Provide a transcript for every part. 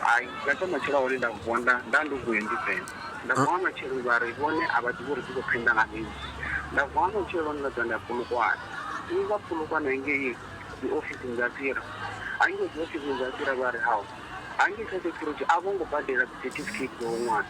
hayi nga thoma tshila hone nda vonda nda ndi kuye ndi pena nda vuwa matshelo vha ri vhone a vha ḓivhi uri dzi khou phenda nga mini nda vuwa matshelo nda ḓa nda pulukwana i vha pulukwana ngei dzi ofisini dza tsira hangei dzi ofisini dza tsira vha ri hao hangei kha security a vho ngo badela dzi certificate dza u ṅwana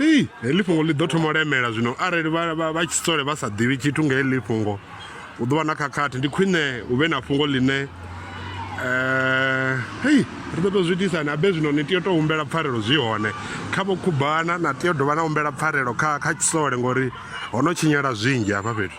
ii heḽi fhungo ḽi ḓo thoma u lemela zwino arali vha tshi sole vha sa ḓivhi tshithu nga heḽi fhungo hu ḓo vha na khakhathi ndi khwine hu vhe na fhungo ḽine um hei ri ḓo tou zwi itisa ni abe zwino ni tea u tou humbela pfarelo zwi hone kha vho khubana na tea u dovha na humbela pfarelo kha kha tshisole ngori ho no tshinyala zwinzhi hafha fhethu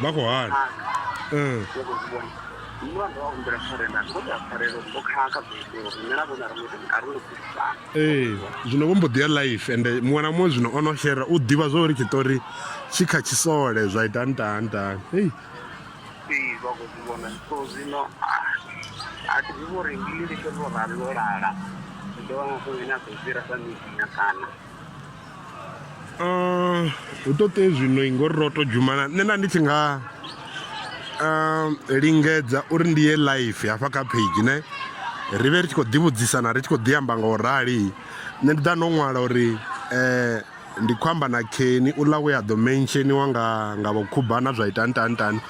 vha khou hana ee zwino vho mbo ḓi ya life ende muṅwe na muṅwe zwino o no shera u ḓivha zwa uri tshiṱori tshi kha tshisole zwa ita ntahantahani ei Ee, vha khou zwi vhona so zwino a thi ḓivhi uri ndi litsho ḽo rali ḽo lala ndi ḓo vha mafhungo ine a ḓo fhira sa midinya kana Um, hu to tea zwino i ngori ro to dzhumana nṋe nda ndi tshi nga um, lingedza uri ndi ye live hafha kha page ne ri vhe ri tshi khou ḓivhudzisana ri tshi khou ḓi amba nga u rali nṋe ndi ḓa ndo ṅwala uri um ndi khou amba na Kenny u ḽa we a ḓo mensheniwa nga nga vho khubana zwa ita ntantani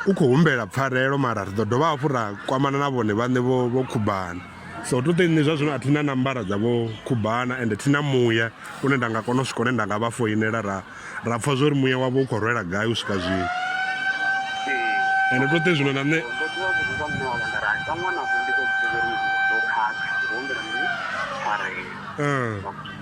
u khou humbela pfarelo mara ri ḓo dovha hafhu ra kwamana na vhone vhaṋe vho vho khubana so to ṱe nṋe zwa zwino a thi na nambara dza vho khubana ende thi na muya une nda nga kona u swika hune nda nga vha foinela ra ra pfha zwa uri muya wavho u khou rwela gai u swika zwino ende to ṱe zwino na nṋe Uh.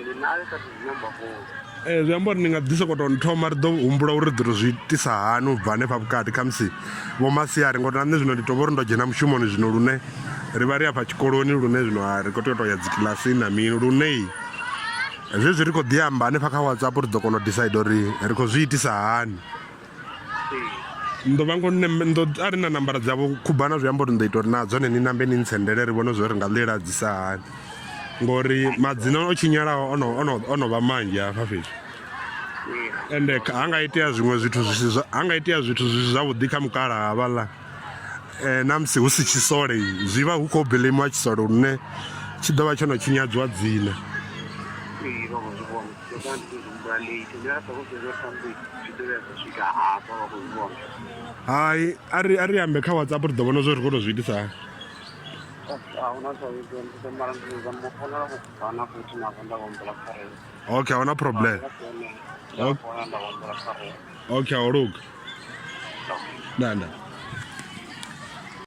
ndi nayo kha ḓi zwi amba fholo ee zwi amba uri ndi nga ḓi sokou tou nthoma ri ḓo humbula uri ri ḓo tou zwi itisa hani u bva hanefha vhukati khamusi vho masiari ngori na nṋe zwino ndi tou vha uri ndo dzhena mushumoni zwino lune ri vha ri afha tshikoloni lune zwino a ri khou tea u tou ya dzi kilasini na mini lune zwezwi ri khou ḓi amba hanefha kha whatsapp ri ḓo kona u decide uri ri khou zwi itisa hani ndo vha ngo ndo a ri na nambara dzavho khubana zwi amba uri ndo ita uri na dzone ni nambe ni ntsendele ri vhone zwo ri nga ḽi ladzisa hani ngori madzina o tshinyalaho ono ono ono vha manzhi hafha fhethu ende ha nga itea zwiṅwe zwithu zwi si ha nga itea zwithu zwi si zwavhuḓi kha mukala havhaḽa um na musi hu si tshisole zwi vha hu khou bilimiwa tshisole lune tshi ḓo vha tsho no tshinyadziwa dzina hai a ri a ri ambe kha whatsapp ri ḓo vhona zwo ri khou tou zwi itisa okay ahuna problem okay aho luga nanda